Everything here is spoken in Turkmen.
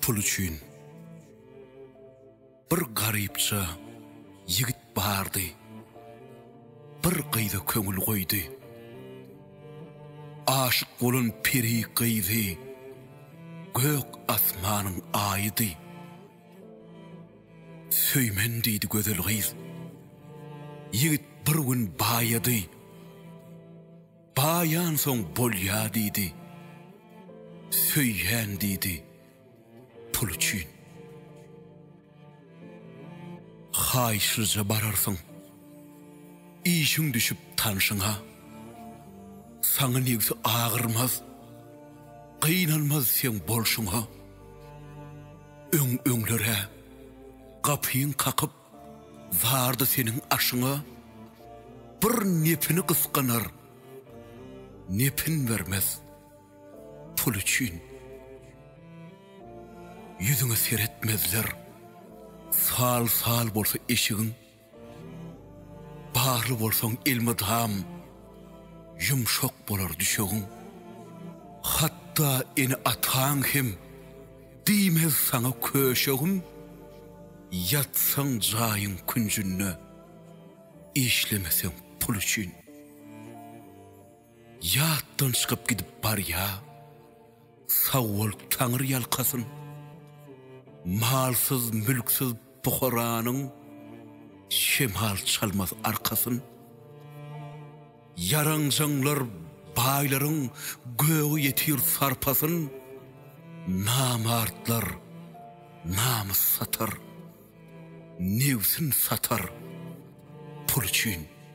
Pul üçin bir garypça ýigit bardy. Bir gyza köňül goýdy. Aşyk bolan peri gyzy gök asmanyň aýydy. Söýmen diýdi gözel gyz. Ýigit bir gün baýady. Baýansoň bolýa diýdi. Söýýän diýdi pul üçin. Haýyşlyja bararsyň. Işiň düşüp tanşyňa. Saňa nebsi agyrmaz. Gynanmaz seň bolşuňa. Öň-öňler-ä, gapyň kakyp, bardy seniň aşyňa, Bir nepini gysganar, nepin bermez, pul üçin. Ýüzüňe seretmezler, sal-sal bolsa eşigiň. Barly bolsaň elmydam Ýumşak bolar düşegiň. Hatda ene-ataň hem Diýmez saňa köşegim. Ýatsaň jaýyň künjünde, Işlemeseň pul üçin. Ýatdan çykyp gidip barýa. Sag bol taňyr ýalkasyn. Malsyz mülksiz puharanyň şemal çalmaz arkasyn. Ýaranjaňlar baýlaryň gögi ýetir sarpasyn. Namartlar namys satar, nebsin satar pul üçin.